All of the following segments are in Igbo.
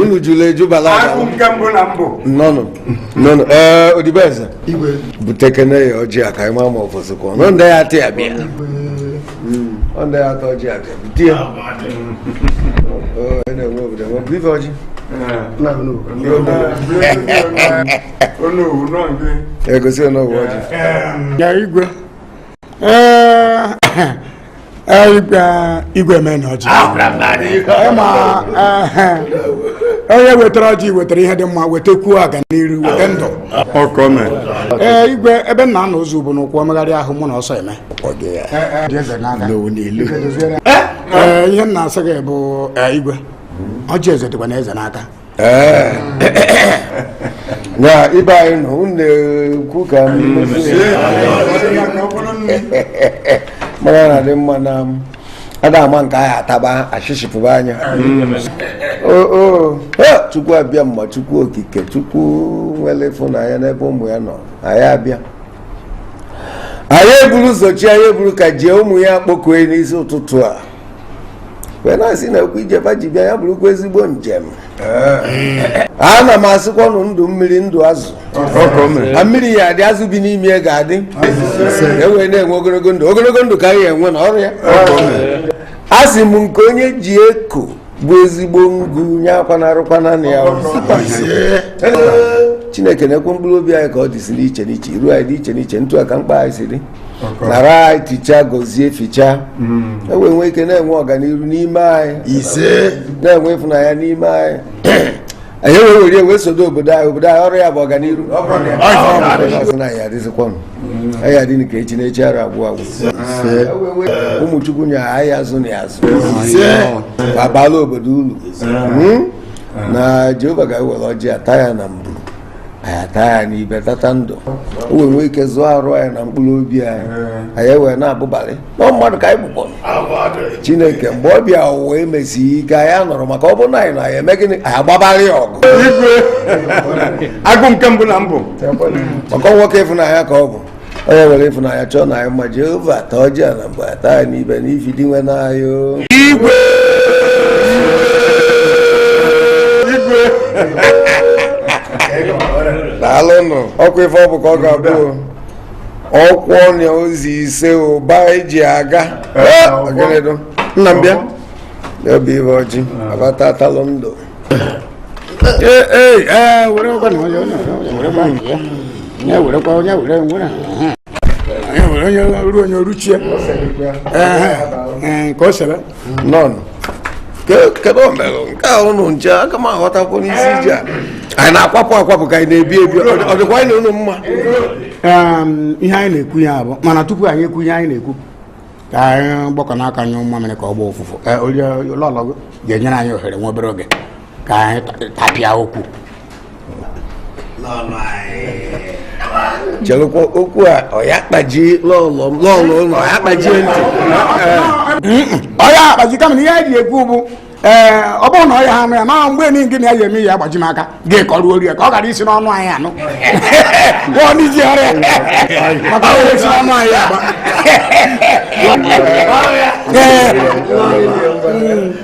unu jụrụ ejubala nnọọnụ nnọọnụ ee odibeze butekene ya ọjị a ka anyị maa ma ọfọsụ kụọ nọ ndị ya atị ya bịa ọ ndị ya atọ ọjị a ka bute ya na-enwe obodo enwe bụ ife ọjị egosi onowu ọjị ya igwe igwe meena ọjị onye wetara ọjị wetara ihe dị mma wetekwuo aganiru weta ndụ ee igwe ebe nna na ozu bụ n'ụkwụ omegharị ahụ mụ na ọsọ eme ihe nna asị gị bụ igwe ọjị eze dịkwanụ eze n'aka na ibe anyị nọ unu na-ekwu ka m mara na dị mma na m ada ama nke anyị ataba ashishi pụba anya o o ha, chukwu abịama chukwu okike chukwu nwere ịfụnanya n'ebe ụmụ ya nọ anyị abịa anyị eburu ụzọ chi anyị eburu ka jie ụmụ ya kpokue n'isi ụtụtụ a wee na-asị na-ekwu ije ba ji bịa ya bụrụkwa ezigbo njem ana m asịkwanụ ndụ mmiri ndụ azụ na mmiri ya adị azụ bi n'ime ya ga-adị e wee na-enwe ogologo ndụ ogologo ndụ ka anyị enwe na ọrụ ya a sị m nke onye ji eko bụ ezigbo ngụ nya akwanarụkwana na ya chineke nekwe mkpụrụ obi anyị ka ọ dịsi n'iche n'iche iru anyị dị iche n'iche ntụ a ka mkpa anyị si dị nara anyị tichaa gọzie fichaa hmm. e wee nwee ike na-enwe ọganiru n'ime anyị ise na-enwe ịfụnanya n'ime anyị anyị wee were wee sodo obodo anyị obodo anyị ọrụ ya bụ ọganiru anyị adịzikwa anyị adị ka echi na echi ara agwụ agwụ ụmụ chukwu nye anyị azụ na ya azụ abala obodo ulu hmm? na jehova ga-ewere ọjị ata ya na mburu anyị ata ya n'ibe tata ndụ o wee nwee ike zụọ arụ anyị na mkpụrụ obi anyị anyị wee na-abụbalị na mmadụ ka anyị bụ gboo chineke mgbe ọ bịa ụwa emesi ike anyị anọrọ maka ọ bụrụ na anyị nọ anyị eme gịnị anyị agbabalị ọgụ igwe agụ nke mbụ na mbụ maka nwoke ịfụnanya ka ọ bụ onye nwere ịfụnanya chọọ na anyị mma jehova ata ọjị a n'ogbe ata ya n'ibe n'ifi dinwenụ anyị igwe igwe daalụnụ ọkwa ife ọ bụ ka ọ ga-abụ ọkwọ na ozi ise ụba eji aga nna m bịa obi ibe ọjị abata atalụ ndụ onye ruchie ka o sebe nọnụ kedu omelụ nke a ụnụ nche aka m aghọtakwu n'isi ije a anyị na-akwapụ akwapụ ka anyị na-ebi ebi ọ dịkwa anyị na ụnụ mma ihe anyị na-ekwu ya bụ mana tupu anyị ekwu ihe anyị na-ekwu ka anyị gbakọ n'aka nyụọ mamịrị ka ọ gbaa ụfụfụ lọlọ gị ga-enyere anyị ohere nwa obere oge ka anyị tapịa okwu chelụkwa okwu a ọ ya-akpaji lọlọ m lọlọ ọ ya-akpajie ntị ọ ya-akpaji kama na ihe anyị ji ekwu bụ ee ọ bụrụ na ọ ya-anụ ya ma mgbe niile gị na ya ji eme ya agbaji m aka gị kọọrọ ya ka ọ ghara isi n'ọnụ anyị anụ ọ n'iji ọrụ ya maka o si n'ọnụ anyị agba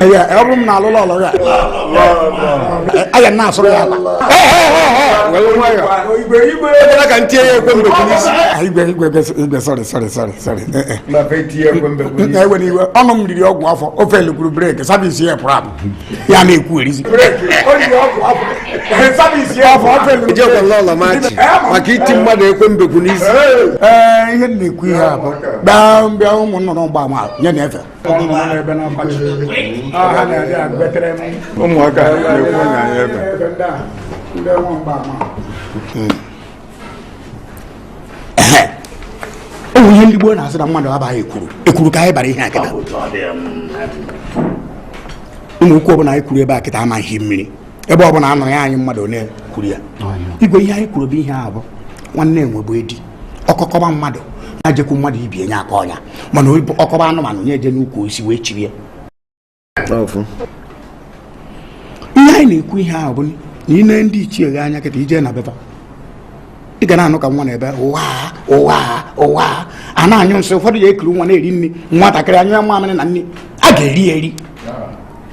ọ bụrụ m na lọlọ ya a ya na-asụrụ ya ala ekwela ka m tie ya ekwe mbekwu n'isi igwe igwe igwe sorry sorry sorry sorry ewele iwe ọnụ m riri ọgwụ afọ ofe elekwuru brake service ya pụrụ apụ ya na-ekwu erizi maka iti mmadụ ekwe mbekwu n'isi ihe na-ekwu ihe a bụ gbaa mbịa ụmụ nnụnụ gbaa ma nye na-efe ụmụaka na-ekwu onye anyị ebe o nwere ihe ndị gboo na-asị na mmadụ abaghị ekwuru ekwuru ka anyị bara ihe a kịta ị ma okwu ọbụla anyị kwuru ebe a kịta amaghị mmiri ebe ọ bụla a nụrụ ya anyị amalụ onye kwuru ya igwe ihe anyị kwuru bụ ihe a bụ nwanne enwe bụ edi ọkọ kọba mmadụ nya ejekwu mmadụ ibe ya nya akọọ nya mana ọ kọba anụmanụ nya eje n'ukwu osisi wee chiri ya ihe anyị na-ekwu ihe ahụ bụ na i nee ndị ichie gị anya kịta i je na be fa ị ga na-anụ ka nwa na-ebe ụwa ụwa ụwa a na-anyụ nsị ụfọdụ ya ekiri nwa na-eri nri nwatakịrị anyụọ ya mamịrị na nri a ga-eri eri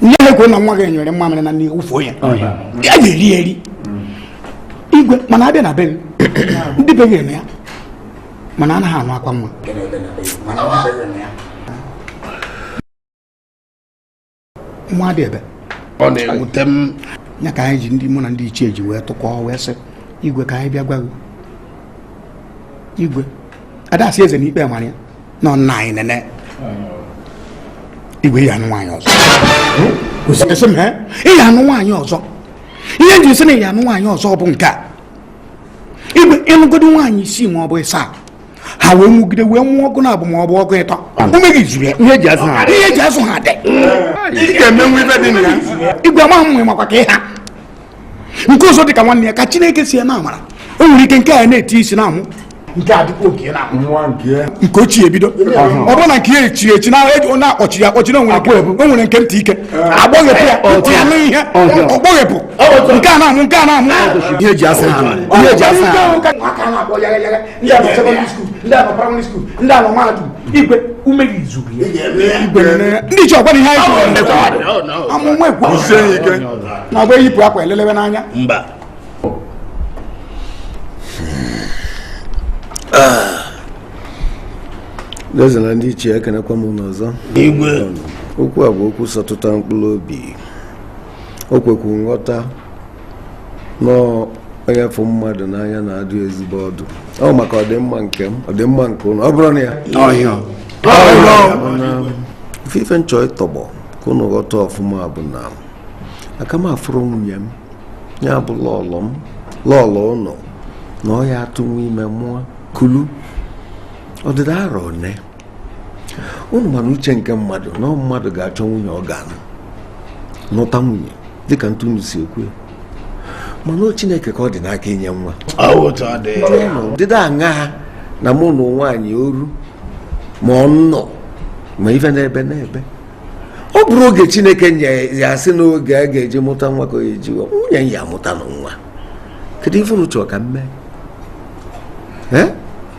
ihe ha ekwe na nwa gị nyụrụ mamịrị na nri wụfuo ya a ga-eri ya eri igwe mana a bịa na be gị ndị be gị eme ya mana anaghị anụ akwa nwa nwa adị ebe ọ na-ewute m ya ka anyị ji ndị mụ na ndị ichie ji wee tụkọọ wee sị igwe ka anyị bịa gwa gị igwe ada asị eze na ikpe mara ya nọ nna anyị nene igwe ị ya-anụ nwaanyị ọzọ asị m ị ya-anụ nwaanyị ọzọ ihe m ji sị na ị ya-anụ nwaanyị ọzọ bụ nke a igwe ị nụgodi nwaanyị isii ma ọ bụ ịsaa ha wee mụgide wee mụọ ọgụ na abụ ma ọ bụ ọgụ ịtọ ume gị zuru ya ihe eji azụ ha dị igwe amaghị m makwa ka ị ha nke ọzọ dị ka nwanne ya ka chineke si ya na amara o nwere ike nke a na-eti isi na amụ nke a dịkwa oke na nwa nke nke ochie ebido ọ bụrụ na nke ya echiri echi na ọ na-akpọchi ya akpọchi na o nwere nke- o nwere nke ntị ike agbọghepụ ya ọ tụrụ anụ ihe ọ gbọghepụ nke a na-amụ nke a na-amụ ihe eji azụ ha ihe eji azụ ha Aka na-akpọ yagha yagha ndị a nọ secondary school ndị a nọ primary school ndị a nọ mahadum igwe ume gị zuru ya ndị ichie ọ kwa ihe anyị kwuru amụma ekwu na ọgba eyipụ akwa elelebe n'anya mba eze na ndị ichie ekenekwa m unu ọzọ igwe okwu a bụ okwu sọtụta mkpụrụ obi o kwekwu nghọta onye fụ mmadụ n'anya na-adụ ezigbo ọdụ ọ bụ maka ọdịmma nke m ọdịmma nke ụnụ ọ bụrụ na ya ife ife m chọ ịtọgbọ ka ụnụ ghọta ọfụma bụ na aka m afụrọ nwunye m ya bụ lọlọ m lọlọ ụnụ na ọ ya-atụnwu ime mụa kulu ọdịda arọ one unu manụ uche nke mmadụ na mmadụ ga-achọ nwunye ọ ga-anụ nụta nwunye dịka etu unu si ekwu mana ọ chineke ka ọ dị n'aka inye nwa dịda aṅa ha na mụ nụ nwaanyị oru ma ọ nnụ ma ife n'ebe n'ebe ọ bụrụ oge chineke ya-asị n'oge a ga-eji mụta nwa ka e ji nwunye ya amụtanụ nwa kedu ife unu chọrọ ka m mee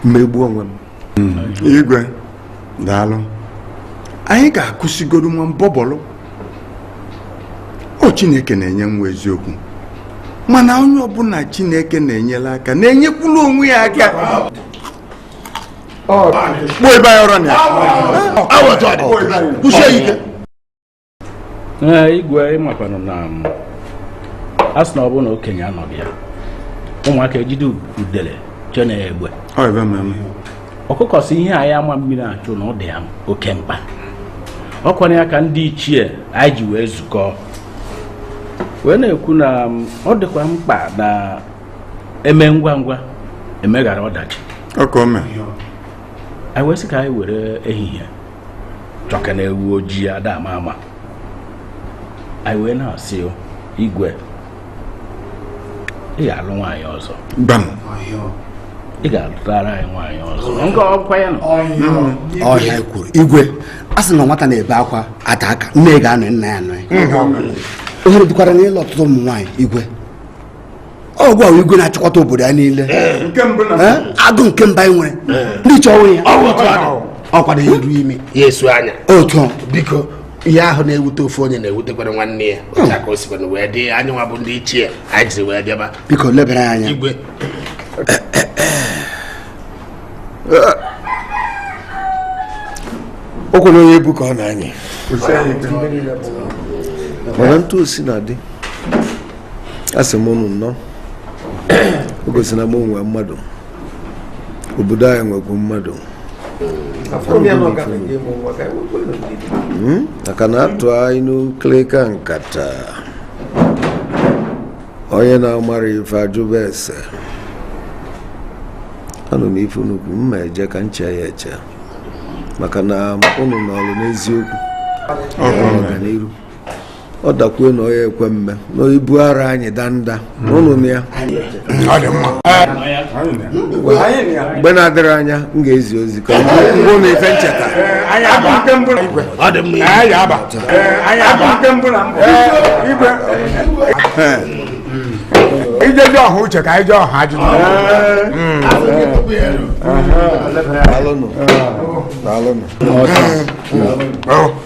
m megbuo onwe m igwe daalụ anyị ga-akụsigodu nwa mbọbọlụ ọ chineke na-enye nwa eziokwu mana onye ọbụla chineke na-enyere aka na-enyekwuru onwe ya aka kpọọ ebe anyị ọrụ na ya kwụsie ike ee igwe ị makwanụ na um, a sị na ọ bụrụ na okenye anọghị ya ụmụaka ejide udele chee na egbe Ọ ebe ma eme. ọkụkọ sị ihe anyị ama mmiri achụ na ọ dị ya oke mkpa ọ kwanụ ya ka ndị ichie anyị ji wee zukọ wee na-ekwu na um, ọ dịkwa mkpa na e mee ngwa ngwa emeghara ọdachi Ọ ka o mee. anyị wee sị ka anyị were ehihie chọka na ewu ojii ada ama ama anyị wee na-asị igwe ị ga-alụ nwaanyị ọzọ ị ga-alụtara anyị nwaanyị ọzọ nke ọkwa ya nọ ọhịa e kwuru igwe a sị na nwata na-ebe akwa atụ aka nne ga-anọ nna ya anọ ya ohere dịkwara n'ịlụ ọtụtụ ụmụ nwaanyị igwe ọgwụ ahụ igwe na-achịkọta obodo ya niile eh, eh, agụ nke mba anyị nwere eh. ndị chọ onwe ya ọ kwado ya eru ime ya esu anya otu biko ihe ahụ na-ewute ofu onye na-ewutekwara nwanne ya hmm. ka o sikwana wee dị anyị nwa bụ ndị ichie anyị jiri wee bịaba biko lebara ya anya igwe o kwere onye ebu ka ọ na-anyị mana etu o si na-adị asị m unu nnọọ o gosi na m nwee mmadụ obodo anyị nwekwu mmadụ hmm? maka na a tụa inu nkilika nkata onye na-amara ife ajụba ese anụ m ife unu kwuru m ga-eje ka m chee ya eche maka na unu nọrụ n'eziokwu ọganiru ọ dakwuo na ọ ya-ekwe mme na ibu ara anyị danda ụnụ naa mgbe na-adịrọ anya m ga-ezi ozi ka m gwa ụnụ ife m cheta ijezi ọha uche ka anyị jee ọha ajụjụ Daalụnụ. Daalụnụ.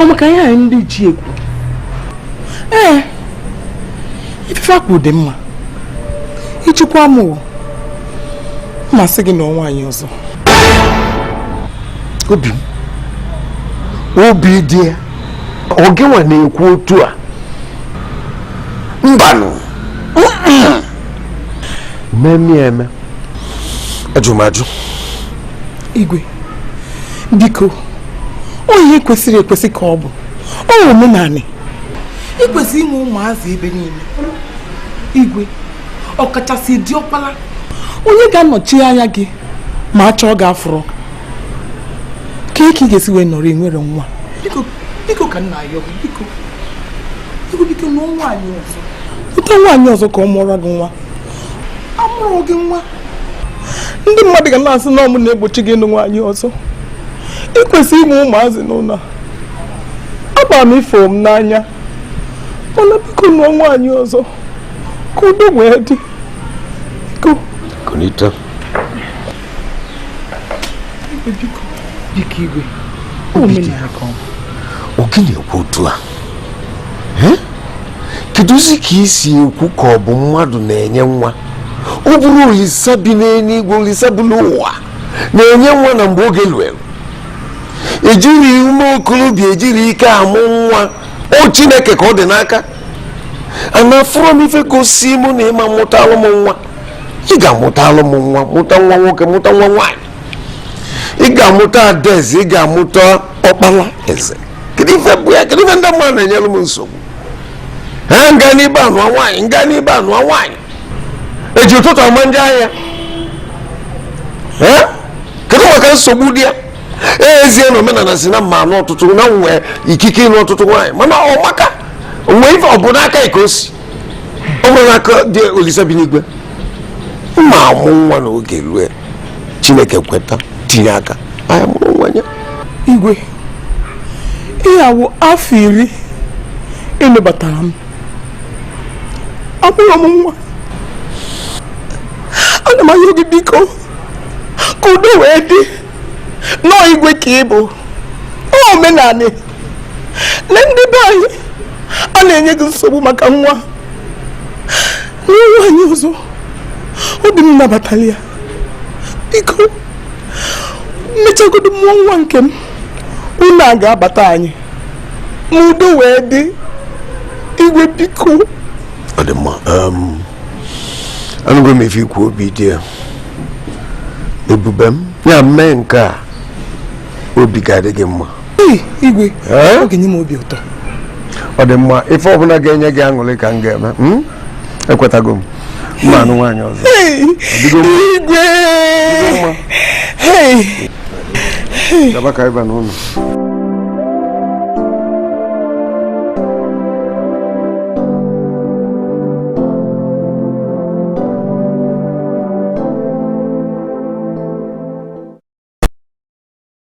ọ maka ihe anyị ndị ichie kwu ee ife a kwu dị mma i chekwa mụ ma-asị gị nụọ nwaanyị ọzọ obi m obi di ya ọ gịnwa na-ekwu otu a mbanụ m ma-eme eme ajụ m ajụ igwe biko ọ ihe kwesịrị ekwesị ka ọ bụ ọ omenala i kwesị inwe ụmụazị ebe niile igwe ọkachasị diọkpala onye ga-anọchi anya gị ma a chọọ gị afụrọ kee ka ị ga-esi wee nọrọ enwerọ nwa biko ka nna ya biko biko biko nụọ nwaanyị ọzọ nụta nwaanyị ọzọ ka ọ mụọrọ gị nwa amụrụ gị nwa ndị mmadụ ga na-asị na ọ mụ na-egbochi gị ịnụ nwaanyị ọzọ i kwesị inwe ụmụazị n'ụlọ amara m ị fụ m n'anya mana biko nụọ nwaanyị ọzọ ka udo wee dị kunita biko igwe obidiya ka ọ bụ. ọ gị na-ekwu otu a kedụzi ka i si ekwu ka ọ bụ mmadụ na-enye nwa ọ bụrọ olisa bi n'eluigwe olisa bi n'ụwa na-enye nwa na mgbe oge luelu ejiri ume okorobịa ejiri ike amụ nwa ọ chineke ka ọ dị n'aka mana afụrọ m ife gosi mụ na ị ma-amụtalụ m nwa ị ga-amụtalụ m nwa mụta nwa nwoke mụta nwa nwaanyị ị ga-amụta adaeze ị ga-amụta ọkpala eze kedu ife bụ ya kedu ife ndị mmadụ na-enyere m nsogbu ha m gaa n'ibe a nụọ nwaanyị m gaa n'ibe a nụọ nwaanyị eji ụtụtụ ama njọ ahịa ee kedu maka nsogbu dị ya ezie na omenala sị na m ma-anụ ọtụtụ na m nwee ikike ịnụ ọtụtụ nwaanyị mana ọ maka nwee ife ọ bụ n'aka ike o si ọ bụrụ n'aka dị olisa bi n'igwe mma amụ nwa n'oge rue chineke kweta tinye aka anyị mụrụ nwa ya igwe ihe a wụ afọ iri ị nụbatara m amụrọ m nwa ana m ayọ gị biko ka udo wee dị na ọ igwe ka ị bụ omenala na ndị be anyị a na-enye gị nsogbu maka nwa nụọ nwaanyị ọzọ obi m nabatara ya biko mechagodo mụọ nwa nke m ụnọ a ga-abata anyị ma udo wee dị igwe biko ọ dị mma anụgo m ife i kwu obidiya ebube m ya mee nke a obi ga-adị gị mma igwe ọ ga-enye m obi ụtọ ọ dị mma ife ọbụla ga-enye gị aṅụrị ka m ga-eme hmm? ekwetago m m ma-anụ nwaanyị ọzọ igwe gaba ka ị baa n'ụlọ